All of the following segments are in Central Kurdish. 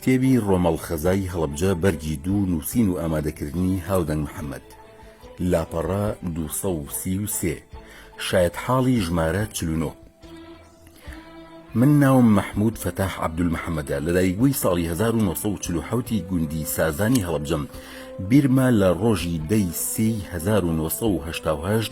کتێبی ڕۆمەڵ خەزای هەڵەبجە بەرگی دوو نووسین و ئامادەکردنی هاودەنگ محەممەد لاپەڕە 233 شایەت حاڵی ژمارە چلونۆ من ناوم مححمود فتاح عبدول محەممەدە لە دایکبووی ساڵی 1940 گوندی سازانی هەڵبجەم بیرما لە ڕۆژی دەی سی 1970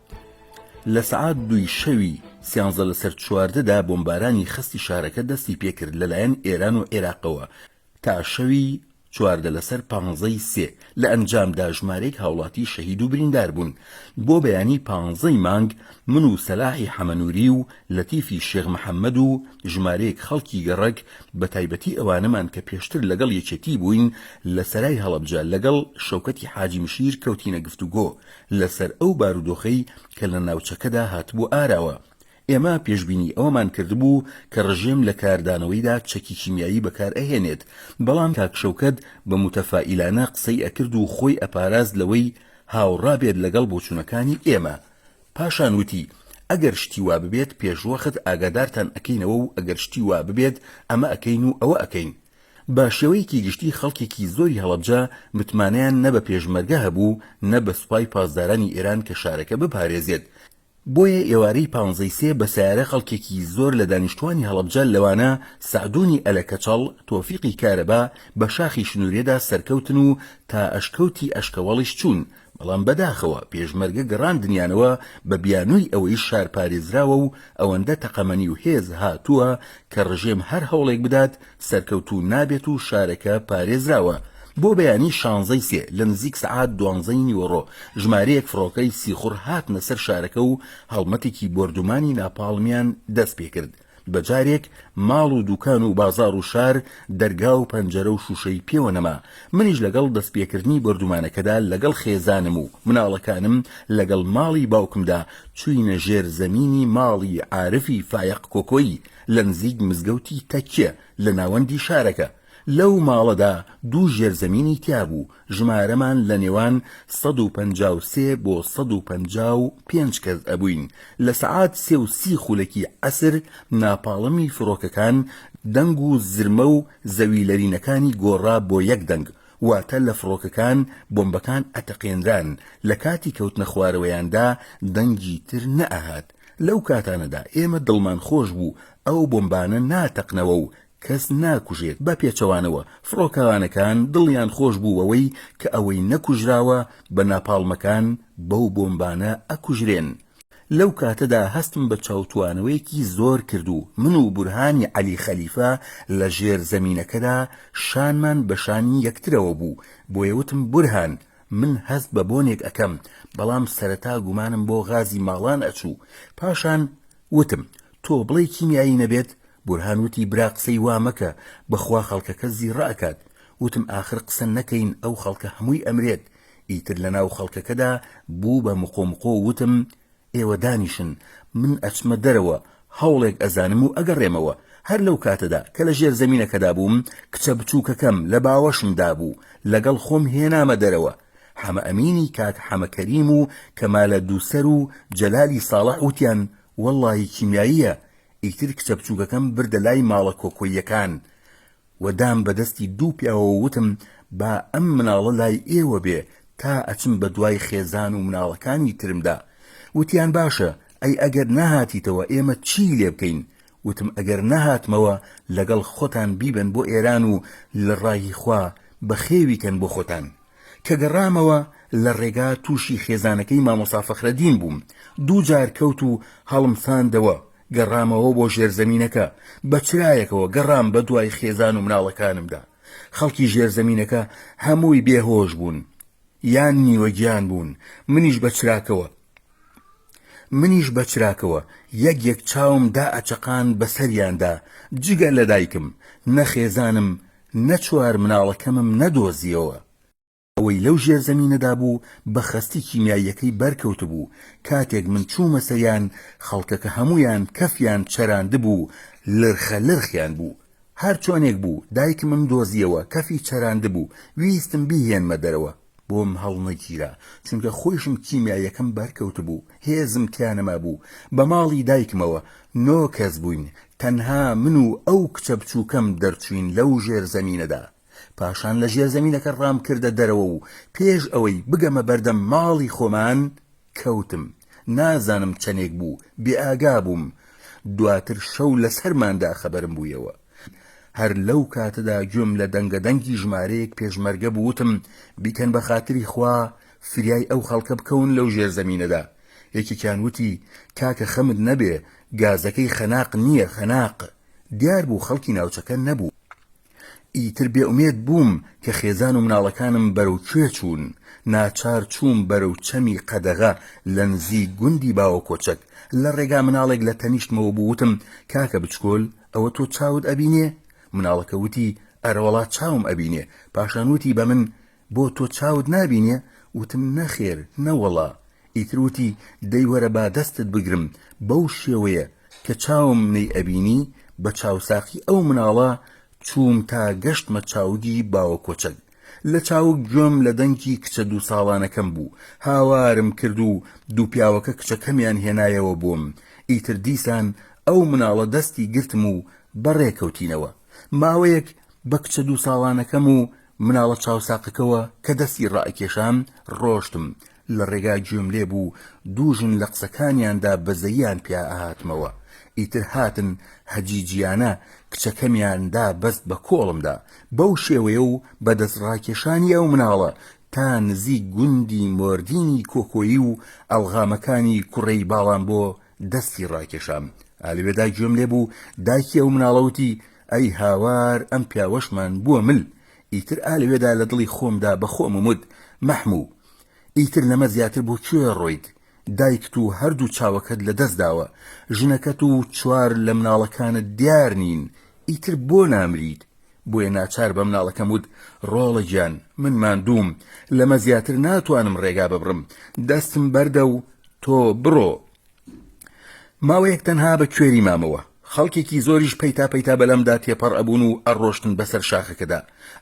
لە سەعات دووی شەوی سیانزە لەسەر چواردە دا بۆمبارانی خەستی شارەکە دەستی پێکرد لەلایەن ئێران و عێراقەوە تا شەوی چواردە لەسەر پانزە ی سێ، لە ئەنجامدا ژمارەیەک هاوڵاتی شەهید و بریندار بوون. بۆ بەیانی پانزە ی مانگ من و سەلاحی حەمەنووری و لەتیفی شێخ محەمەد و ژمارەیەک خەڵکی گەڕەک بە تایبەتی ئەوانەمان کە پێشتر لەگەڵ یەکێتی بووین لە سەرای هەڵەبجە لەگەڵ شەوکەتی حاجی مشیر کەوتینە گفتوگۆ لەسەر ئەو بارودۆخەی کە لە ناوچەکەدا هاتبووە ئاراوە. ئێمە پێشبینی ئەوەمان کردبوو کە ڕژێم لە کاردانەوەیدا چەکی کیمیایی بەکار ئەهێنێت، بەڵام کاک شەوکەت بە موتەفائیلانە قسەی ئەکرد و خۆی ئەپاراست لەوەی هاوڕا بێت لەگەڵ بۆچوونەکانی ئێمە. پاشان وتی، ئەگەر شتی وا ببێت پێشوەخت ئاگادارتان ئەکەینەوە و ئەگەر شتی وا ببێت ئەمە ئەکەین و ئەوە ئەکەین. بە شێوەیەکی گشتی خەڵکێکی زۆری هەڵەبجە متمانەیان نە بە پێشمەرگە هەبوو نە بە سوپای پاسدارانی ئێران کە شارەکە بپارێزێت، بۆیە ئێوارەی پانزەی سێ بە سەیارە خەڵکێکی زۆر لە دانیشتووانی هەڵەبجە لەوانە سەعدوونی ئەلە کەچەڵ، تۆفیقی کارەبا، بە شاخی شنوورێدا سەرکەوتن و تا ئەشکەوتی ئەشکەوەڵیش چوون، بەڵام بەداخەوە پێشمەرگە گەڕاندنیانەوە بە بیانووی ئەوەی شار پارێزراوە و ئەوەندە تەقەمەنی و هێز هاتووە کە ڕژێم هەر هەوڵێک بدات سەرکەوتوو نابێت و شارەکە پارێزراوە بۆ بەیانی شانزەی سێ لە نزیک سەعات دوانزەی نیوەڕۆ ژمارەیەک فڕۆکەی سیخوڕ هاتنە سەر شارەکە و هەڵمەتێکی بۆردومانی ناپاڵمیان دەست پێکرد بە جارێک ماڵ و دوکان و بازاڕ و شار دەرگا و پەنجەرە و شووشەی پێوە نەما، منیش لەگەڵ دەستپێکردنی بۆردومانەکەدا لەگەڵ خێزانم و مناڵەکانم لەگەڵ ماڵی باوکمدا چووینە ژێر زەمینی ماڵی عارفی فایەق کۆکۆیی لە نزیک مزگەوتی تەکیە لە ناوەندی شارەکە، لەو ماڵەدا دوو ژێرزەمینی تیابوو، ژمارەمان لە نێوان سەد و پەنجا و سێ بۆ سەد و پەنجا و پێنج کەس ئەبووین، لە سەعات سێ و سی خولەکی عەسر ناپاڵمی فرۆکەکان دەنگ و زرمە و زەوی لەرینەکانی گۆڕا بۆ یەک دەنگ، واتە لە فڕۆکەکان بۆمبەکان ئەتەقێنران، لە کاتی کەوتنە خوارەوەیاندا دەنگی تر نەئەهات، لەو کاتانەدا ئێمە دڵمان خۆش بوو ئەو بۆمبانە ناتەقنەوە و کەس ناکوژێت بە پێچەوانەوە فڕۆکەوانەکان دڵیان خۆش بوو بەوەی کە ئەوەی نەکوژراوە بە ناپاڵمەکان بەو بۆمبانە ئەکوژرێن لەو کاتەدا هەستم بە چاوتوانەوەیەکی زۆر کرد و من و بورهانی عەلی خەلیفە لە ژێر زەمینەکەدا شانمان بە شانی یەکترەوە بوو بۆیە وتم بورهان من هەست بە بۆنێک ئەکەم بەڵام سەرەتا گومانم بۆ غازی ماڵان ئەچوو پاشان وتم، تۆ بڵێی کیمیایی نەبێت؟ بورهان وتی، برا قسەی وا مەکە، بەخوا خەڵکەکە زیڕە ئەکات. وتم، ئاخر قسە نەکەین ئەو خەڵکە هەمووی ئەمرێت. ئیتر لەناو خەڵکەکەدا بوو بە مقۆمقۆ و وتم، ئێوە دانیشن، من ئەچمە دەرەوە، هەوڵێک ئەزانم و ئەگەڕێمەوە. هەر لەو کاتەدا کە لە ژێر زەمینەکەدا بووم، کچە بچووکەکەم لە باوەشمدا بوو، لەگەڵ خۆم هێنامە دەرەوە. حەمە ئەمینی کاک حەمە کەریم و کەمالە دووسەر و جەلالی ساڵح وتیان وەڵڵاهی کیمیاییە، ئیتر کچە بچووکەکەم بردە لای ماڵە کۆکۆییەکان و دام بە دەستی دوو پیاوە و وتم با ئەم مناڵە لای ئێوە بێ تا ئەچم بە دوای خێزان و مناڵەکانی ترمدا، وتیان باشە، ئەی ئەگەر نەهاتیتەوە ئێمە چیی لێ بکەین، وتم ئەگەر نەهاتمەوە لەگەڵ خۆتان بیبەن بۆ ئێران و لە ڕای خوا بەخێوی کەن بۆ خۆتان. کە گەڕامەوە لە ڕێگا تووشی خێزانەکەی مامۆستا فەخرەدین بووم، دوو جار کەوت و هەڵمساندەوە، گەڕامەوە بۆ ژێرزەمینەکە، بە چرایەکەوە گەڕام بە دوای خێزان و مناڵەکانمدا. خەڵکی ژێرزەمینەکە هەمووی بێهۆش بوون یان نیوەگیان بوون، منیش بە چراکەوە. منیش بە چراکەوە یەک یەک چاوم دائەچەقاند بە سەریاندا، جگە لە دایکم، نە خێزانم، نە چوار مناڵەکەمم نەدۆزییەوە. ئەوەی لەو ژێرزەمینەدا بوو بە خەستی کیمیاییەکەی بەرکەوتبوو، کاتێک من چوومە سەریان، خەڵکەکە هەموویان کەفیان چەراندبوو، لرخە لرخیان بوو. هەرچۆنێک بوو دایکمم دۆزییەوە، کەفی چەراندبوو، ویستم بیهێنمە دەرەوە. بۆم هەڵنەگیرا چونکە خۆیشم کیمیاییەکەم بەرکەوتبوو هێزم تیا نەمابوو بە ماڵی دایکمەوە نۆ کەس بووین تەنها من و ئەو کچە بچووکەم دەرچووین لەو ژێر زەمینەدا پاشان لە ژێر زەمینەکە ڕامکردە دەرەوە و پێش ئەوەی بگەمە بەردەم ماڵی خۆمان کەوتم نازانم چەنێک بوو بێئاگا بووم دواتر شەو لەسەرماندا خەبەرم بوویەوە هەر لەو کاتەدا گوێم لە دەنگە دەنگی ژمارەیەک پێشمەرگە بوو وتم بیکەن بە خاتری خوا فریای ئەو خەڵکە بکەون لەو ژێر زەمینەدا یەکێکیان وتی کاکە خەمت نەبێ گازەکەی خەناق نییە خەناق دیار بوو خەڵکی ناوچەکە نەبوو ئیتر بێ ئومێد بووم کە خێزان و مناڵەکانم بەرەو کوێ چوون، ناچار چووم بەرەو چەمی قەدەغە لە نزیک گوندی باوەکۆچەک، لە ڕێگا مناڵێک لە تەنیشتمەوە بوو وتم، کاکە بچکۆل ئەوە تۆ چاوت ئەبینێ؟ مناڵەکە وتی، ئەرەوەڵا چاوم ئەبینێ، پاشان وتی بە من، بۆ تۆ چاوت نابینێ؟ وتم نەخێر، نەوەڵا. ئیتر وتی دەی وەرە با دەستت بگرم، بەو شێوەیە کە چاوم نەیئەبینی، بە چاوساقی ئەو مناڵە چووم تا گەشتمە چاوگی باوە کۆچەک. لە چاوگ گوێم لە دەنگی کچە دوو ساڵانەکەم بوو، هاوارم کرد و دوو پیاوەکە کچەکەمیان هێنایەوە بۆم. ئیتر دیسان ئەو مناڵە دەستی گرتم و بەڕێ کەوتینەوە. ماوەیەک بە کچە دوو ساڵانەکەم و مناڵە چاوساقەکەوە کە دەستی ڕائەکێشام ڕۆشتم، لە ڕێگا گوێم لێ بوو دوو ژن لە قسەکانیاندا بەزەییان پیا ئەهاتمەوە، ئیتر هاتن هەجیجییانە کچەکەمیان دا بەست بە کۆڵمدا، بەو شێوەیە و بە دەست ڕاکێشانی ئەو مناڵە تا نزیک گوندی مۆردینی کۆکۆیی و ئەڵغامەکانی کوڕەی باڵانبۆ دەستی ڕاکێشام ئالوێدا گوێم لێ بوو دایکی ئەو مناڵەوتی ئەی هاوار ئەم پیاوەشمان بووە مل ئیتر ئالوێدا لە دڵی خۆمدا بە خۆم ومت مەحموو ئیتر لەمە زیاتر بۆ کوێ ڕۆیت دایکت و هەردوو چاوەکەت لە دەست داوە ژنەکەت و چوار لە مناڵەکانت دیار نین ئیتر بۆ نامریت بۆیە ناچار بە مناڵەکەم وت، ڕۆڵە گیان، من ماندووم، لەمە زیاتر ناتوانم ڕێگا ببڕم، دەستم بەردە و تۆ بڕۆ. ماوەیەک تەنها بە کوێری مامەوە، خەڵکێکی زۆریش پەیتا پەیتا بەلامدا تێپەڕ ئەبوون و ئەڕۆشتن بەسەر شاخەکەدا.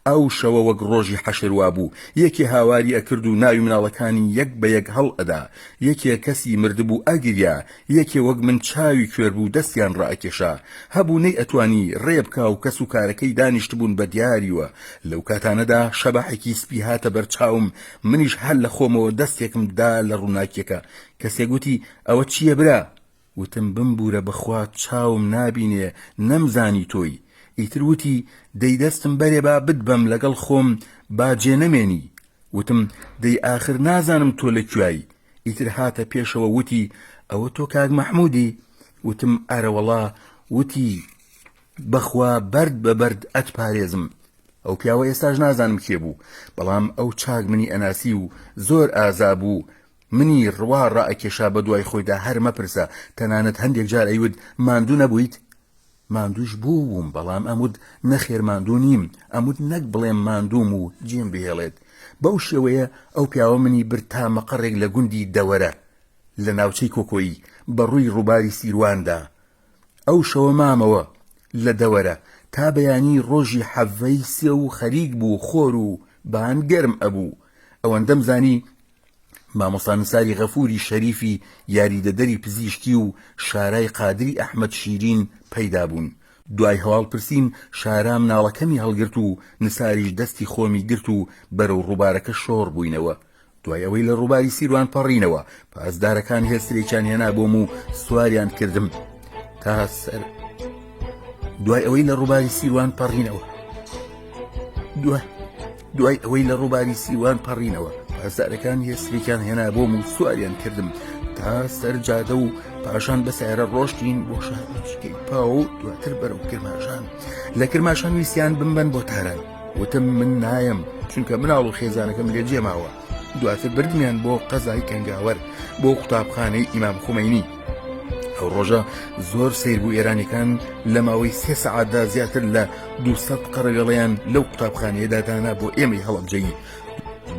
ئەو شەوە وەک ڕۆژی حەشر وابوو، یەکێ هاواری ئەکرد و ناوی مناڵەکانی یەک بە یەک هەڵئەدا، یەکێ کەسی مردبوو ئەگریا، یەکێ وەک من چاوی کوێر بوو دەستیان ڕائەکێشا، هەبوو نەیئەتوانی ڕێ بکا و کەس و کارەکەی دانیشتبوون بە دیاریوە، لەو کاتانەدا شەباحێکی سپی هاتە بەر چاوم، منیش هەر لە خۆمەوە دەستێکم دا لە ڕووناکییەکە، کەسێک وتی، ئەوە چییە برا؟ وتم، بمبوورە بەخوا چاوم نابینێ، نەمزانی تۆی. ئیتر وتی، دەی دەستم بەرێ با بتبەم لەگەڵ خۆم با جێ نەمێنی. وتم، دەی ئاخر نازانم تۆ لە کوێی؟ ئیتر هاتە پێشەوە وتی، ئەوە تۆ کاک مەحموودی؟ وتم، ئەرەوەڵا، وتی، بەخوا بەرد بە بەرد ئەتپارێزم. ئەو پیاوە ئێستاش نازانم کێ بوو، بەڵام ئەو چاک منی ئەناسی و زۆر ئازا بوو، منی ڕوا ڕائەکێشا بەدوای خۆیدا هەر مەپرسە، تەنانەت هەندێک جار ئەیوت ماندوو نەبوویت؟ ماندووش بووم بەڵام ئەموت نەخێر ماندوو نیم، ئەموت نەک بڵێم ماندووم و جێم بهێڵێت، بەو شێوەیە ئەو پیاوە منی برد تا مەقەڕێک لە گوندی دەوەرە لە ناوچەی کۆکۆیی بە ڕووی ڕووباری سیرواندا، ئەو شەوە مامەوە لە دەوەرە تا بەیانی ڕۆژی حەڤەی سێ و خەریک بوو خۆر و بان گەرم ئەبوو، ئەوەندەم زانی مامۆستا نساری غەفووری شەریفی یاریدەدەری پزیشکی و شارای قادری ئەحمەد شیرین پەیدا بوون. دوای هەواڵپرسین شارا مناڵەکەمی هەڵگرت و نساریش دەستی خۆمی گرت و بەرەو ڕووبارەکە شۆڕ بووینەوە. دوای ئەوەی لە ڕووباری سیروان پەڕینەوە، پاسدارەکان هێسترێکیان هێنا بۆم و سواریان کردم تا سەر دوای ئەوەی لە ڕووباری سیروان پەڕینەوە، دوای. دوای ئەوەی لە ڕووباری سیوان پەڕینەوە پاسدارەکان هێسترێکیان هێنا بۆم و سواریان کردم تا سەر جادە و پاشان بە سایرە ڕۆشتین بۆ شارچکەی پاو و دواتر بەرەو کرماشان لە کرماشان ویسیان بمبەن بۆ تاران وتم من نایم چونکە مناڵ و خێزانەکەم لێ جێماوە دواتر بردمیان بۆ قەزای کەنگاوەر بۆ قوتابخانەی ئیمام خومەینی ئەو ڕۆژە زۆر سیر بوو ئێرانەکان لە ماوەی سێ سەعاتدا زیاتر لە 200 قەڕەوێڵیان لەو قوتابخانەیەدا دانا بۆ ئێمەی هەڵەبجەیی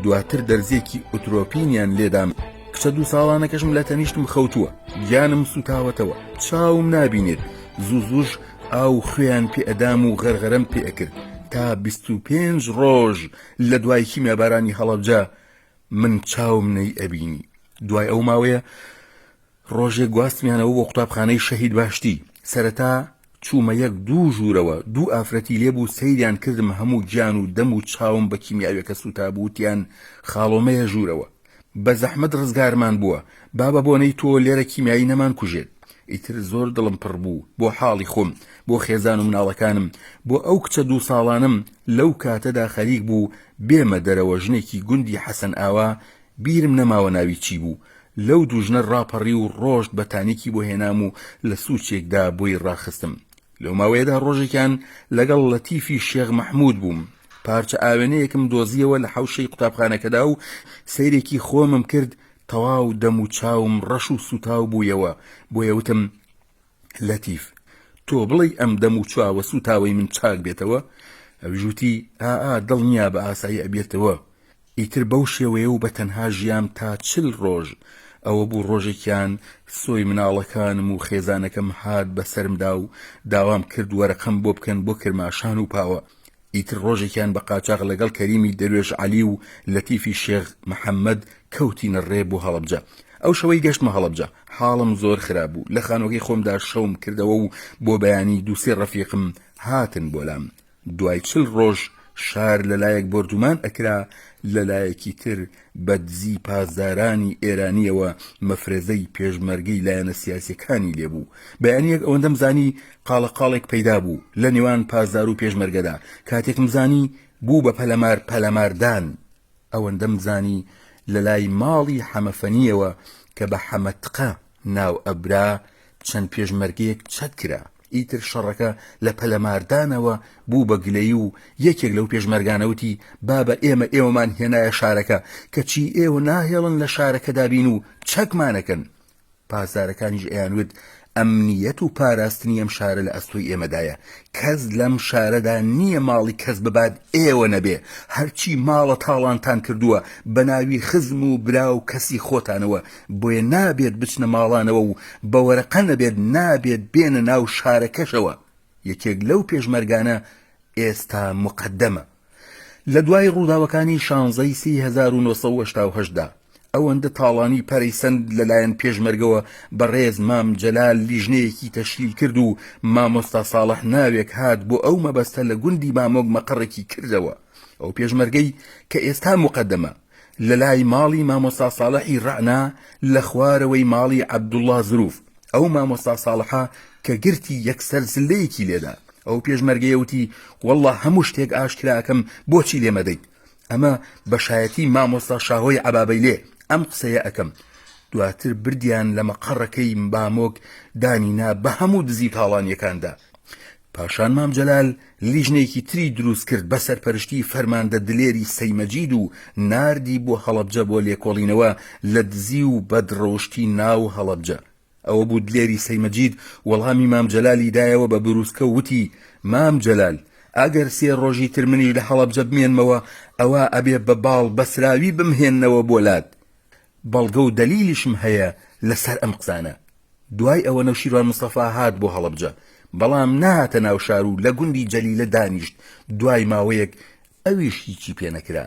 دواتر دەرزیەکی ئۆترۆپینیان لێدام کچە دوو ساڵانەکەشم لە تەنیشتم خەوتووە گیانم سوتاوەتەوە چاوم نابینێت زوو زوش ئاو خوێیان پێئدام و غەرغەرم پێئکرد تا 25 ڕۆژ لە دوای کیمیابارانی هەڵەبجە من چاوم نەی ئەبینی دوای ئەو ماوەیە ڕۆژێک گواستمیانەوە بۆ قوتابخانەی شەهید باشتی سەرەتا چوومە یەک دوو ژوورەوە دوو ئافرەتی لێبوو سەیریان کردم هەموو گیان و دەم و چاوم بە کیمیاوێکە سووتابووتیان خاڵۆمەیە ژوورەوە بەزەحمەت ڕزگارمان بووە با بە بۆنەی تۆ لێرە کیمیایی نەمان کوژێت ئیتر زۆر دڵم پڕ بوو بۆ حاڵی خۆم بۆ خێزان و مناڵەکانم بۆ ئەو کچە دوو ساڵانەم لەو کاتەدا خەریک بوو بێمە دەرەوە ژنێکی گوندی حەسەن ئاوا بیرم نەماوە ناوی چی بوو لەو دوو ژنە ڕاپەڕی و ڕۆشت بەتانیکی بۆ هێنام و لە سوچێکدا بۆی ڕاخستم لەو ماوەیەدا ڕۆژێکیان لەگەڵ لەتیفی شێخ مەحموود بووم، پارچە ئاوێنەیەکم دۆزییەوە لە حەوشەی قوتابخانەکەدا و سەیرێکی خۆمم کرد، تەواو دەم و چاوم ڕەش و سووتاو بوویەوە، بۆیە وتم، لەتیف! تۆ بڵێی ئەم دەم و چاوە سووتاوەی من چاک بێتەوە؟ ئەویش وتی، ئا ئا دڵنیابە ئاسایی ئەبێتەوە. ئیتر بەو شێوەیە و بە تەنها ژیام تا چل ڕۆژ، ئەوە بوو ڕۆژێکیان سۆی مناڵەکانم و خێزانەکەم هات بە سەرمدا و داوام کرد وەرەقەم بۆ بکەن بۆ کرماشان و پاوە، ئیتر ڕۆژێکیان بە قاچاغ لەگەڵ کەریمی دەروێش عەلی و لەتیفی شێخ محەمەد کەوتینە ڕێ بۆ هەڵەبجە، ئەو شەوەی گەشتمە هەڵەبجە حاڵم زۆر خراپ بوو، لە خانوەکەی خۆمدا شەوم کردەوە و بۆ بەیانی دوو سێ ڕەفیقم هاتن بۆ لام، دوای چل ڕۆژ شار لەلایەک بۆردومان ئەکرا لەلایەکی تر بەدزی پاسدارانی ئێرانیەوە مەفرەزەی پێشمەرگەی لایەنە سیاسیەکانی لێ بوو بەیانیەک ئەوەندەم زانی قاڵە قاڵێک پەیدا بوو لەنێوان پاسدارو پێشمەرگەدا کاتێکم زانی بوو بە پەلەمار پەلەماردان ئەوەندەم زانی لەلای ماڵی حەمە فەنیەوە کە بە حەمە تقە ناو ئەبرا چەند پێشمەرگەیەک چەک کرا ئیتر شەڕەکە لە پەلەماردانەوە بوو بە گلەیی و یەکێک لەو پێشمەرگانە وتی بابە ئێمە ئێوەمان هێنایە شارەکە کەچی ئێوە ناهێڵن لە شارەکەدا بین و چەکمانەکەن پاسدارەکانیش ئەیان وت ئەمنیەت و پاراستنی ئەم شارە لە ئەستۆی ئێمەدایە کەس لەم شارەدا نییە ماڵی کەس ببات ئێوە نەبێ هەرچی ماڵە تاڵانتان کردووە بە ناوی خزم و برا و کەسی خۆتانەوە بۆیە نابێت بچنە ماڵانەوە و بە وەرەقە نەبێت نابێت بێنە ناو شارەکەشەوە یەکێک لەو پێشمەرگانە ئێستا مقدمە لە دوای ڕووداوەکانی شانزەی سی 1970 دا ئەوەندە تاڵانی پەرەی سند لەلایەن پێشمەرگەوە بەڕێز مام جەلال لیژنەیەکی تەشکیل کرد و مامۆستا ساڵح ناوێک هات بۆ ئەو مەبەستە لە گوندی مامۆک مەقڕێکی کردەوە ئەو پێشمەرگەی کە ئێستا مقدمە لەلای ماڵی مامۆستا ساڵحی ڕەعنا لە خوارەوەی ماڵی عەبدوڵڵا زرووف، ئەو مامۆستا ساڵحە کە گرتی یەکسەر زللەیەکی لێدا، ئەو پێشمەرگەیە وتی وەڵڵا هەموو شتێک ئاشکرا ئەکەم بۆچی لێ مەدەیت، ئەمە بە شایەتی مامۆستا شاهۆی عەبابەیلێ ئەم قسەیە ئەکەم، دواتر بردیان لە مەقەڕەکەی بامۆک دانی نا بە هەموو دزی و تاڵانیەکاندا پاشان مام جەلال لیژنەیەکی تری دروست کرد بە سەرپەرشتی فەرماندە دلێری سەی مەجید و ناردی بۆ هەڵەبجە بۆ لێکۆڵینەوە لە دزی و بەد ڕەوشتی ناو هەڵەبجە. ئەوە بوو دلێری سەی مەجید وەڵامی مام جەلالی دایەوە بە بروسکە و وتی، مام جەلال! ئەگەر سێ ڕۆژی تر منیش لە هەڵەبجە بمێنمەوە ئەوا ئەبێ بە باڵ بەسراوی بمهێننەوە بۆ لات. بەڵگە و دەلیلیشم هەیە لەسەر ئەم قسانە. دوای ئەوە نەوشیروان مستەفا هات بۆ هەڵەبجە، بەڵام نەهاتە ناو شار و لە گوندی جەلیلە دانیشت، دوای ماوەیەک ئەویش هیچی پێ نەکرا.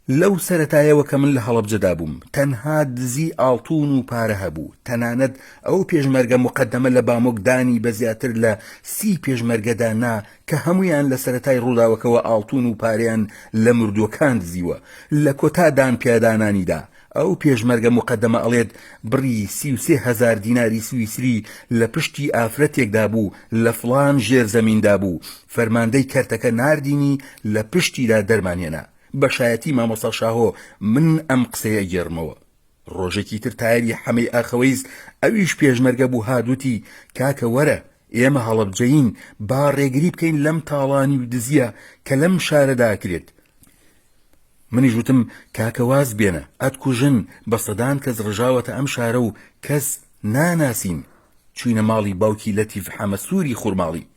لەو سەرەتایەوە کە من لە هەڵەبجەدا بووم، تەنها دزی ئاڵتوون و پارە هەبوو، تەنانەت ئەو پێشمەرگە موقەدەمە لە بامۆک دانی بە زیاتر لە سی پێشمەرگەدا نا کە هەموویان لە سەرەتای ڕووداوەکەوە ئاڵتوون و پارەیان لە مردووەکان دزیوە، لە کۆتا دانپیادانانیدا ئەو پێشمەرگە موقەدەمە ئەڵێت بڕی سی و سێ هەزار دیناری سویسری لە پشتی ئافرەتێکدا بوو لە فڵان ژێرزەمیندا بوو، فەرماندەی کەرتەکە ناردینی لە پشتیدا دەرمانهێنا، بە شایەتی مامۆستا شاهۆ من ئەم قسەیە ئەگێڕمەوە. ڕۆژێکی تر تایری حەمەی ئاخەوەیز ئەویش پێشمەرگە بوو هات وتی، کاکە وەرە، ئێمە هەڵەبجەیین، با ڕێگری بکەین لەم تاڵانی و دزییە کە لەم شارەدا ئەکرێت. منیش وتم، کاکە واز بێنە، ئەتکوژن، بە سەدان کەس ڕژاوەتە ئەم شارە و کەس ناناسین. چووینە ماڵی باوکی لەتیف حەمە سووری خورماڵی،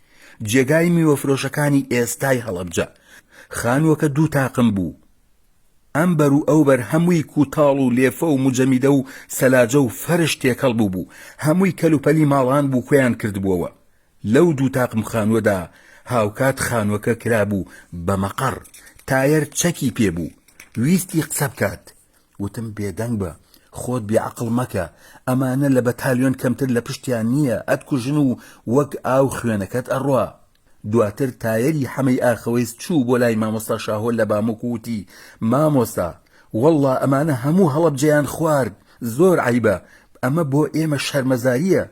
جێگای میوەفرۆشەکانی ئێستای هەڵەبجە. خانووەکە دوو تاقم بوو. ئەم بەر و ئەو بەر هەمووی کووتاڵ و لێفە و موجەمیدە و سەلاجە و فەرش تێکەڵ بووبوو، هەمووی کەلوپەلی ماڵان بوو کۆیان کردبووەوە. لەو دوو تاقم خانووەدا هاوکات خانووەکە کرابوو بە مەقەڕ. تایەر چەکی پێ بوو. ویستی قسە بکات. وتم بێدەنگ بە. خۆت بێعەقڵ مەکە. ئەمانە لە بەتالیۆن کەمتر لە پشتیان نییە، ئەتکوژن و وەک ئاو خوێنەکەت ئەڕوا. دواتر تایەری حەمەی ئاخەوەیس چوو بۆ لای مامۆستا شاهۆ لە باموک و وتی، مامۆستا! وەڵڵا ئەمانە هەموو هەڵەبجەیان خوارد، زۆر عەیبە، ئەمە بۆ ئێمە شەرمەزارییە.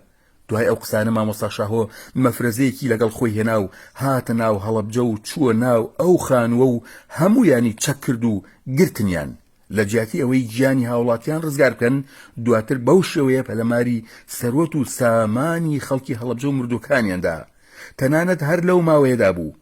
دوای ئەو قسانە مامۆستا شاهۆ مەفرەزەیەکی لەگەڵ خۆی هێنا و هاتە ناو هەڵەبجە و چووە ناو ئەو خانووە و هەموویانی چەک کرد و گرتنیان. لە جیاتی ئەوەی گیانی هاوڵاتیان ڕزگار بکەن دواتر بەو شێوەیە پەلەماری سەروەت و سامانی خەڵکی هەڵەبجە و مردوەکانیاندا تەنانەت هەر لەو ماوەیەدا بوو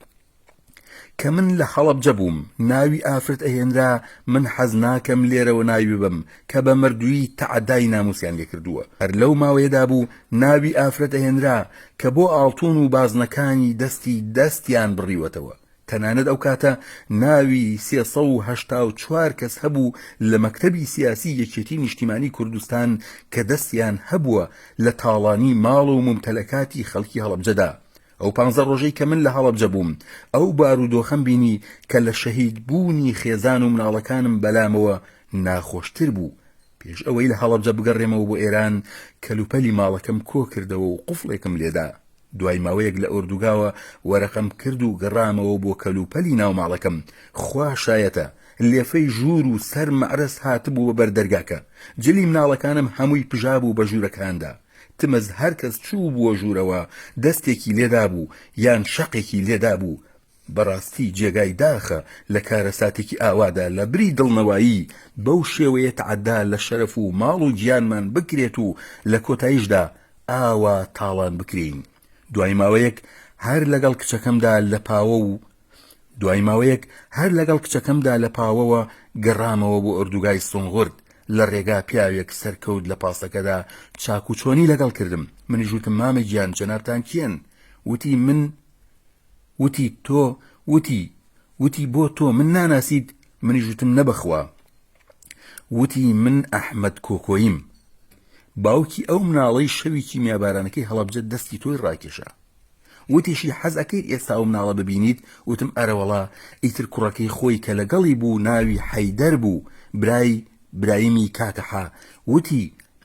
کە من لە حەڵەبجە بووم ناوی ئافرەت ئەهێنرا من حەز ناکەم لێرەوە ناوی ببم کە بە مردووی تەعدای ناموسیان لێکردووە هەر لەو ماوەیەدا بوو ناوی ئافرەت ئەهێنرا کە بۆ ئاڵتون و بازنەکانی دەستی دەستیان بڕیوەتەوە تەنانەت ئەو کاتە ناوی سێ سەد و هەشتا و چوار کەس هەبوو لە مەکتەبی سیاسی یەکێتی نیشتیمانی کوردستان کە دەستیان هەبووە لە تاڵانی ماڵ و مومتەلەکاتی خەڵکی هەڵەبجەدا. ئەو پانزە ڕۆژەی کە من لە هەڵەبجە بووم ئەو بارودۆخەم بینی کە لە شەهید بوونی خێزان و مناڵەکانم بەلامەوە ناخۆشتر بوو. پێش ئەوەی لە هەڵەبجە بگەڕێمەوە بۆ ئێران کەلوپەلی ماڵەکەم کۆکردەوە و قوفڵێکم لێدا. دوای ماوەیەک لە ئۆردوگاوە وەرەقەم کرد و گەڕامەوە بۆ کەلوپەلی ناو ماڵەکەم، خوا شایەتە لێفەی ژوور و سەر مەعرەس هاتبوو بە بەر دەرگاکە، جلی مناڵەکانم هەمووی پژابوو بە ژوورەکاندا، تمز هەرکەس چووبووە ژوورەوە دەستێکی لێدابوو یان شەقێکی لێدابوو، بەڕاستی جێگای داخە لە کارەساتێکی ئاوادا لە بری دڵنەوایی بەو شێوەیە تەعەدا لە شەرەف و ماڵ و گیانمان بکرێت و لە کۆتایشدا ئاوا تاڵان بکرێین دوای ماوەیەک هەر لەگەڵ کچەکەمدا لە پاوە و دوای ماوەیەک هەر لەگەڵ کچەکەمدا لە پاوەوە گەڕامەوە بۆ ئۆردوگای سونغورد لە ڕێگا پیاوێک سەرکەوت لە پاسەکەدا چاکوچۆنی لەگەڵ کردم منیش وتم مامە گیان جەنابتان کێن وتی من وتی تۆ وتی وتی بۆ تۆ من ناناسیت منیش وتم نە بەخوا وتی من ئەحمەد کۆکۆیم باوکی ئەو مناڵەی شەوی کیمیابارانەکەی هەڵەبجە دەستی تۆی ڕاکێشا وتیشی حەز ئەکەیت ئێستا و مناڵە ببینیت وتم ئەرەوەڵا ئیتر کوڕەکەی خۆی کە لەگەڵی بوو ناوی حەیدەر بوو برای برایمی کاکەحە وتی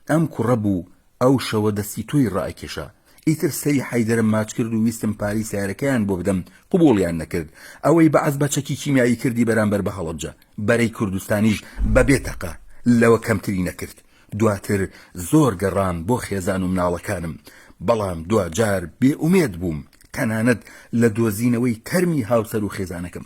ئەم کوڕە بوو ئەو شەوە دەستی تۆی ڕائەکێشا. ئیتر سەری حەیدەرم ماچ کرد و ویستم پارەی سەیارەکەیان بۆ بدەم، قبوڵیان نەکرد. ئەوەی بەعس بە چەکی کیمیایی کردی بەرامبەر بە هەڵەبجە، بەرەی کوردستانیش بە بێ تەقە لەوە کەمتری نەکرد. دواتر زۆر گەڕام بۆ خێزان و مناڵەکانم، بەڵام دواجار بێ ئومێد بووم، تەنانەت لە دۆزینەوەی تەرمی هاوسەر و خێزانەکەم.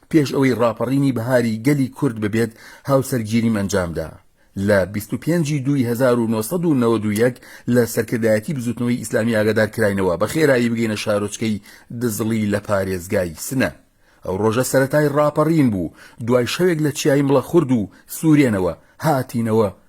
پێش ئەوەی ڕاپەڕینی بەهاری گەلی کورد ببێت هاوسەرگیریم ئەنجامدا لە بیست و پێنج ی دووی هەزار و نۆ سەد و نەوەد و یەک لە سەرکردایەتی بزوتنەوەی ئیسلامی ئاگادار کراینەوە بە خێرایی بگەینە شارۆچکەی دزڵی لە پارێزگای سنە ئەو ڕۆژە سەرەتای ڕاپەڕین بوو دوای شەوێک لە چیای مڵەخورد و سورێنەوە هاتینەوە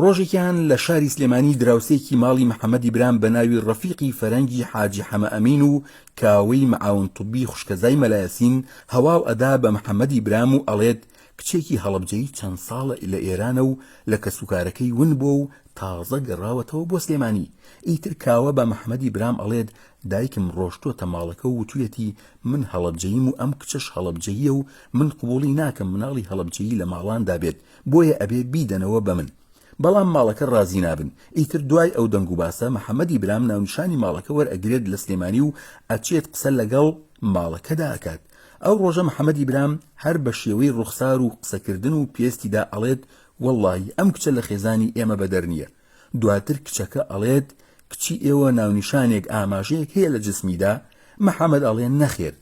ڕۆژێکیان لە شاری سلێمانی دراوسێکی ماڵی محەمەدی برام بە ناوی ڕەفیقی فەرەنگی حاجی حەمە ئەمین و کاوەی معاون طبی خوشکەزای مەلایەسین هەواو ئەدا بە محەمەدی برام و ئەڵێت کچێکی هەڵەبجەیی چەند ساڵە لە ئێرانە و لە کەسوکارەکەی ون بووە و تازە گەڕاوەتەوە بۆ سلێمانی ئیتر کاوە بە محەمەدی برام ئەڵێت دایکم ڕۆشتووەتە ماڵەکە و وتویەتی من هەڵەبجەییم و ئەم کچەش هەڵەبجەییە و من قبوڵی ناکەم مناڵی هەڵەبجەیی لە ماڵاندا بێت بۆیە ئەبێ بیدەنەوە بە من. بەڵام ماڵەکە ڕازی نابن. ئیتر دوای ئەو دەنگ و باسە محەمەدی برام ناونیشانی ماڵەکە وەرئەگرێت لە سلێمانی و ئەچێت قسە لەگەڵ ماڵەکەدا ئەکات. ئەو ڕۆژە محەمەدی برام هەر بە شێوەی ڕوخسار و قسەکردن و پێستیدا ئەڵێت وەڵڵاهی ئەم کچە لە خێزانی ئێمە بەدەر نییە. دواتر کچەکە ئەڵێت کچی ئێوە ناونیشانێک ئاماژەیەک هەیە لە جسمیدا؟ محمد ئەڵێ نەخێر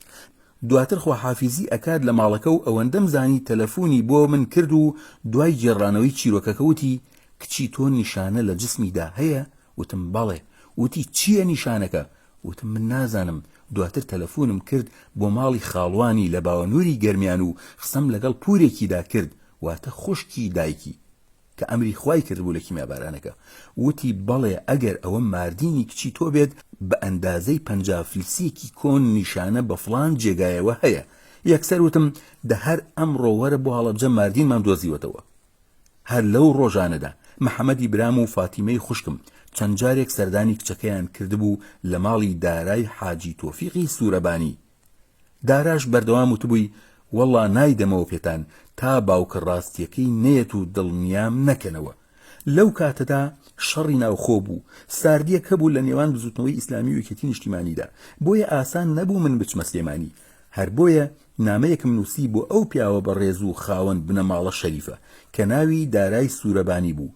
دواتر خواحافیزی ئەکات لە ماڵەکە و ئەوەندەم زانی تەلەفونی بۆ من کرد و دوای گێڕانەوەی چیرۆکەکە وتی کچی تۆ نیشانە لە جسمیدا هەیە؟ وتم بەڵێ وتی چییە نیشانەکە؟ وتم من نازانم دواتر تەلەفونم کرد بۆ ماڵی خاڵوانی لە باوەنوری گەرمیان و قسەم لەگەڵ پورێکیدا کرد واتە خوشکی دایکی کە ئەمری خوای کردبوو لە کیمیابارانەکە، وتی، بەڵێ، ئەگەر ئەوە ماردینی کچی تۆ بێت، بە ئەندازەی پەنجا فلسێکی کۆن نیشانە بە فڵان جێگایەوە هەیە. یەکسەر وتم، دە هەر ئەمڕۆ وەرە بۆ هەڵەبجە ماردینمان دۆزیوەتەوە. هەر لەو ڕۆژانەدا، محەمەدی برام و فاتیمەی خوشکم، چەند جارێک سەردانی کچەکەیان کردبوو لە ماڵی دارای حاجی تۆفیقی سورەبانی، داراش بەردەوام وتبووی، وەڵڵا نایدەمەوە پێتان تا باوکە ڕاستییەکەی نەیەت و دڵنیام نەکەنەوە. لەو کاتەدا شەڕی ناوخۆ بوو، ساردییەک هەبوو لە نێوان بزووتنەوەی ئیسلامی و یەکێتی نیشتیمانیدا، بۆیە ئاسان نەبوو من بچمە سلێمانی. هەر بۆیە نامەیەکم نووسی بۆ ئەو پیاوە بەڕێز و خاوەن بنەماڵە شەریفە، کە ناوی دارای سوورەبانی بوو،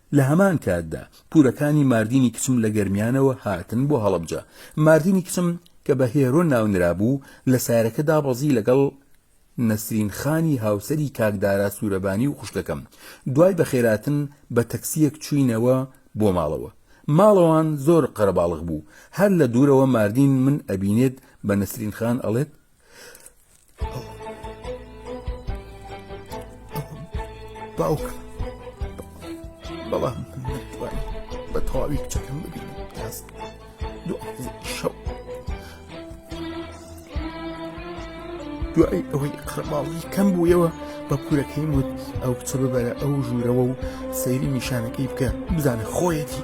لە هەمان کاتدا پورەکانی ماردینی کچم لە گەرمیانەوە هاتن بۆ هەڵەبجە. ماردینی کچم کە بە هێرۆ ناونرابوو، لە سارەکە دابەزی لەگەڵ نەسرین خانی هاوسەری کاک دارا سورەبانی و خوشکەکەم. دوای بەخێرهاتن بە تەکسییەک چووینەوە بۆ ماڵەوە. ماڵەوان زۆر قەرەباڵغ بوو. هەر لە دوورەوە ماردین من ئەبینێت بە نەسرین خان ئەڵێت. باوک بەڵام نەتوان بە تەواوی کچەکەم ببینم کاس شەو دوای ئەوەی قڕماڵی کەم بوویەوە بە پورەکەی وت ئەو کچە ببەرە ئەو ژوورەوە و سەیری نیشانەکەی بکە بزانە خۆیەتی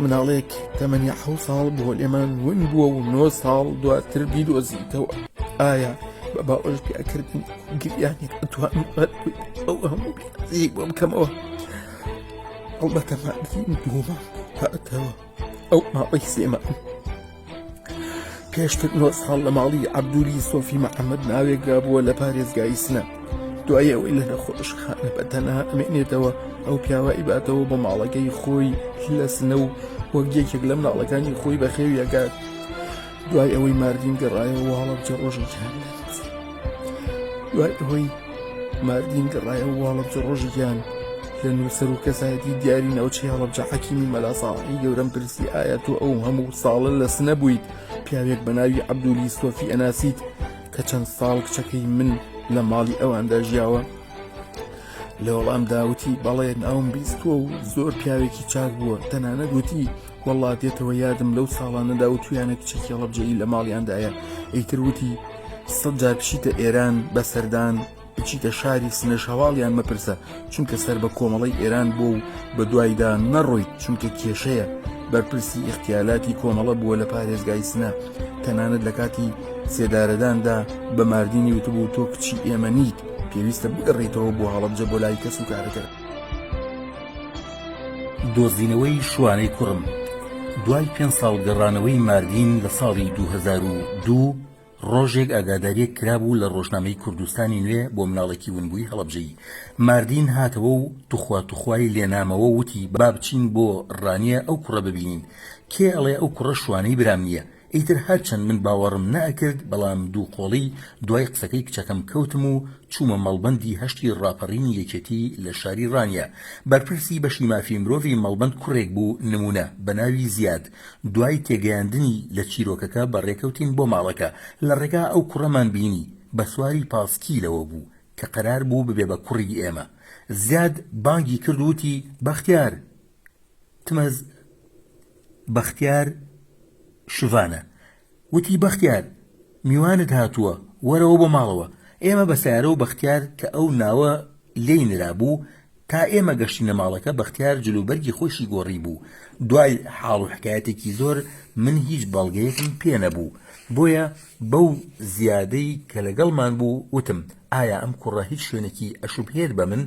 مناڵێک تەمەنی حە ساڵ بۆ لێمان ون بووە و نۆ ساڵ دواتر بیدۆزیتەوە ئایا بە باوەش پیاکردن گریانێک ئەتوان ئەو هەموو بۆ بکەمەوە ئەو بەتەمەندین دوومە هاتەوە ئەو ماڵی سێمە پێشتر نۆ ساڵ لە ماڵی عەبدولی سۆفی محەممەد ناوێکدا بووە لە پارێزگای سنە دوای ئەوەی لە نەخۆشخانە بە تەنها ئەمێنێتەوە ئەو پیاوە ئیباتەوە بۆ ماڵەکەی خۆی لە سنە و وەک یەکێک لە مناڵەکانی خۆی بەخێویەکات دوای ئەوەی ماردین گەڕایەوە هەڵەبجە ڕۆژێکیان دوای ئەوەی ماردین گەڕایە و هەڵەبجە ڕۆژی گیان لە نووسەر و کەسایەتی دیاری ناوچەی هەڵەبجە حەکیمی مەلاساڵحی گەورەم پرسی ئایا تۆ ئەو هەموو ساڵە لە سنە بوویت پیاوێک بە ناوی عەبدولی سۆفی ئەناسیت کە چەند ساڵ کچەکەی من لە ماڵی ئەواندا ژیاوە لە وەڵام داوتی بەڵێ ناوم بیستووە و زۆر پیاوێکی چاک بووە تەنانەت وتی وەڵڵا دێتەوە یادم لەو ساڵانەدا و تویانە کچی کێڵەبجەیی لە ماڵیاندایە ئیتر وتی سەد جار بچیتە ئێران بە سەردان بچیتە شاری سنەش هەواڵیان مەپرسە چونکە سەر بە کۆمەڵی ئێران بۆ و بە دوایدا نەڕۆیت چونکە کێشەیە بەرپرسی ئیختیالاتی کۆمەڵە بووە لە پارێزگای سنە تەنانەت لە کاتی سێدارەداندا بە ماردینی وتبوو تۆ کچی ئێمە نیت پێویستە بگەڕیتەوە بۆ هەڵبجە بۆ لای کەس و کارەکە دۆزینەوەی شوانەی کوڕم دوای پێنج ساڵ گەڕانەوەی ماردین لە ساڵی دوو هەزار و دوو، ڕۆژێک ئاگادارییەک کرابوو لە ڕۆژنامەی کوردستانی نوێ بۆ مناڵێکی ونبووی هەڵەبجەیی. ماردین هاتەوە و توخوا توخوای لێ نامەوە و وتی با بچین بۆ ڕانیە ئەو کوڕە ببینین. کێ ئەڵێ ئەو کوڕە شوانەی برام نییە؟ ئیتر هەرچەند من باوەڕم نەئەکرد بەڵام دوو قۆڵی دوای قسەکەی کچەکەم کەوتم و چوومە مەڵبەندی هەشتی ڕاپەڕینی یەکێتی لە شاری ڕانیە بەرپرسی بەشی مافی مرۆڤی مەڵبەند کوڕێک بوو نمونە بە ناوی زیاد دوای تێگەیاندنی لە چیرۆکەکە بە ڕێکەوتین بۆ ماڵەکە لە ڕێگا ئەو کوڕەمان بینی بە سواری پاسکیلەوە بوو کە قەرار بوو ببێ بە کوڕی ئێمە زیاد بانگی کرد وتی بەختیار تمەز بەختیار شڤانە وتی، بەختیار میوانت هاتووە، وەرەوە بۆ ماڵەوە. ئێمە بە سەیارە و بەختیار کە ئەو ناوە لێی نرابوو، تا ئێمە گەشتینە ماڵەکە، بەختیار جلوبەرگی خۆیشی گۆڕیبوو. دوای حاڵ و حکایەتێکی زۆر، من هیچ بەڵگەیەکم پێ نەبوو، بۆیە بەو زیادەی کە لەگەڵمان بوو، وتم، ئایا ئەم کوڕە هیچ شوێنێکی ئەشوبهێت بە من؟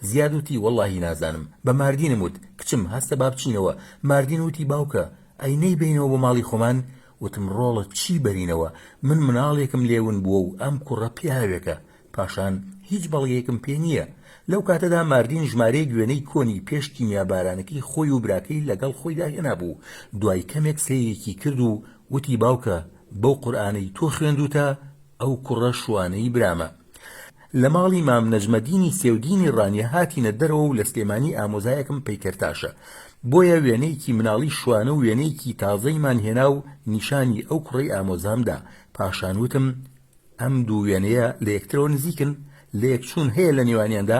زیاد وتی وەڵاهی نازانم بە ماردینم وت کچم هەستە با بچینەوە ماردین وتی باوکە ئەی نەیبەینەوە بۆ ماڵی خۆمان وتم ڕۆڵە چی بەرینەوە من مناڵێکم لێ ون بووە و ئەم کوڕە پیاوێکە پاشان هیچ بەڵگەیەکم پێ نییە لەو کاتەدا ماردین ژمارەیەک وێنەی کۆنی پێش کیمیابارانەکەی خۆی و براکەی لەگەڵ خۆیدا هێنابوو دوای کەمێک سەیرێکی کرد و وتی باوکە بەو قورئانەی تۆ خوێندوتە ئەو کوڕە شوانەی برامە لە ماڵی مام نەجمەدینی سێودینی ڕانیە هاتینە دەرەوە و لە سلێمانی ئامۆزایەکم پەیکەرتاشە بۆیە وێنەیەکی مناڵی شوانە و وێنەیەکی تازەیمان هێنا و نیشانی ئەو کوڕی ئامۆزام دا پاشان وتم ئەم دوو وێنەیە لە یەکترەوە نزیکن لە یەکچوون هەیە لە نێوانیاندا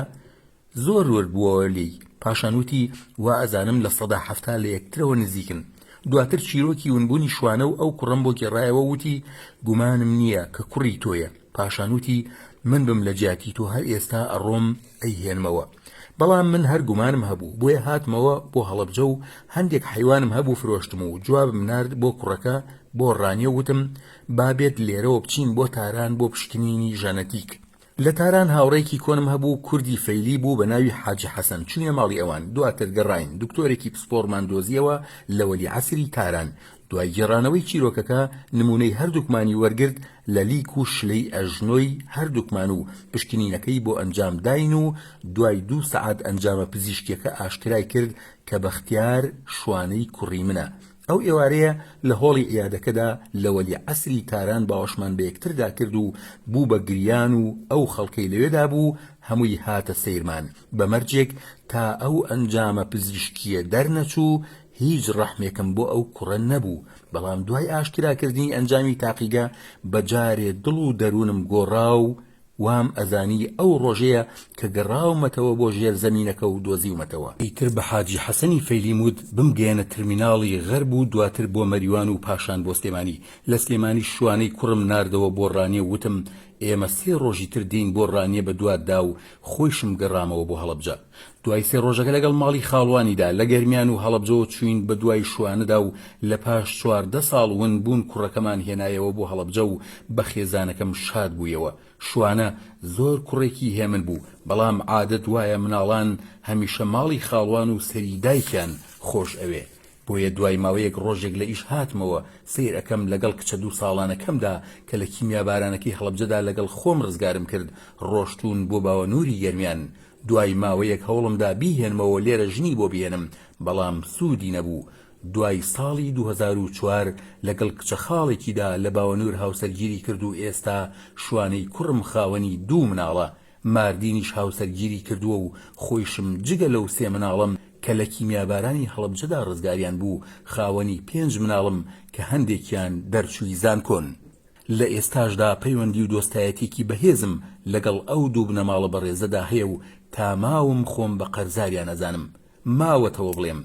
زۆر ورد بووەوە لێی، پاشان وتی، وا ئەزانم لە سەدا حەفتا لە یەکترەوە نزیکن. دواتر چیرۆکی ونبوونی شوانە و ئەو کوڕەم بۆ گێڕایەوە و وتی، گومانم نییە کە کوڕی تۆیە. پاشان وتی، من بم لە جیاتی تۆ هەر ئێستا ئەڕۆم ئەیهێنمەوە. بەڵام من هەر گومانم هەبوو، بۆیە هاتمەوە بۆ هەڵەبجە و هەندێک حەیوانم هەبوو فرۆشتم و جوابم نارد بۆ کوڕەکە بۆ ڕانیە و وتم، با بێت لێرەوە بچین بۆ تاران بۆ پشکنینی ژەنەتیک. لە تاران هاوڕێیەکی کۆنم هەبوو کوردی فەیلی بوو بە ناوی حاجی حەسەن چووینە ماڵی ئەوان دواتر گەڕاین دکتۆرێکی پسپۆڕمان دۆزیەوە لە وەلیعەسری تاران دوای گێڕانەوەی چیرۆکەکە نموونەی هەردووکمانی وەرگرت لە لیک و شلەی ئەژنۆی هەردووکمان و پشکنینەکەی بۆ ئەنجام داین و دوای دوو سەعات ئەنجامە پزیشکیەکە ئاشکرای کرد کە بەختیار شوانەی کوڕی منە ئەو ئێوارەیە لە هۆڵی عیادەکەدا لە وەلی عەسری تاران باوەشمان بە یەکتردا کرد و بوو بە گریان و ئەو خەڵکەی لەوێدا بوو هەمووی هاتە سەیرمان بە مەرجێک تا ئەو ئەنجامە پزیشکییە دەرنەچوو هیچ ڕەحمێکم بۆ ئەو کوڕە نەبوو بەڵام دوای ئاشکراکردنی ئەنجامی تاقیگە بە جارێ دڵ و دەروونم گۆڕا و وام ئەزانی ئەو ڕۆژەیە کە گەڕاومەتەوە بۆ ژێر زەمینەکە و دۆزیومەتەوە. ئیتر بە حاجی حەسەنی فەیلیم وت بمگەیەنە ترمیناڵی غەرب و دواتر بۆ مەریوان و پاشان بۆ سلێمانی. لە سلێمانیش شوانەی کوڕم ناردەوە بۆ ڕانیە و وتم ئێمە سێ ڕۆژی تر دێین بۆ ڕانیە بە دواتدا و خۆیشم گەڕامەوە بۆ هەڵەبجە. دوای سێ ڕۆژەکە لەگەڵ ماڵی خاڵوانیدا لە گەرمیان و هەڵەبجە چووین بە دوای شوانەدا و لە پاش چواردە ساڵ ون بوون کوڕەکەمان هێنایەوە بۆ هەڵەبجە و بە خێزانەکەم شاد بوویەوە شوانە زۆر کوڕێکی هێمن بوو بەڵام عادەت وایە مناڵان هەمیشە ماڵی خاڵوان و سەری دایکیان خۆش ئەوێ بۆیە دوای ماوەیەک ڕۆژێک لە ئیش هاتمەوە سەیر ئەکەم لەگەڵ کچە دوو ساڵانەکەمدا کە لە کیمیابارانەکەی هەڵەبجەدا لەگەڵ خۆم ڕزگارم کرد ڕۆشتوون بۆ باوەنووری گەرمیان دوای ماوەیەک هەوڵمدا بیهێنمەوە لێرە ژنی بۆ بهێنم بەڵام سوودی نەبوو دوای ساڵی دوو هەزار و چوار لەگەڵ کچە خاڵێکیدا لە باوەنوور هاوسەرگیری کرد و ئێستا شوانەی کوڕم خاوەنی دوو مناڵە ماردینیش هاوسەرگیری کردووە و خۆیشم جگە لەو سێ مناڵەم کە لە کیمیابارانی هەڵەبجەدا ڕزگاریان بوو، خاوەنی پێنج مناڵم کە هەندێکیان دەرچووی زانکۆن. لە ئێستاشدا پەیوەندی و دۆستایەتییەکی بەهێزم لەگەڵ ئەو دوو بنەماڵە بەڕێزەدا هەیە و تا ماوم خۆم بە قەرزاریان ئەزانم. ماوەتەوە بڵێم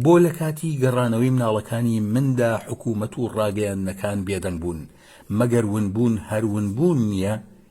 بۆ لە کاتی گەڕانەوەی مناڵەکانی مندا حکوومەت و ڕاگەیاندنەکان بێدەنگ بوون؟ مەگەر ونبوون هەر ونبوون نییە؟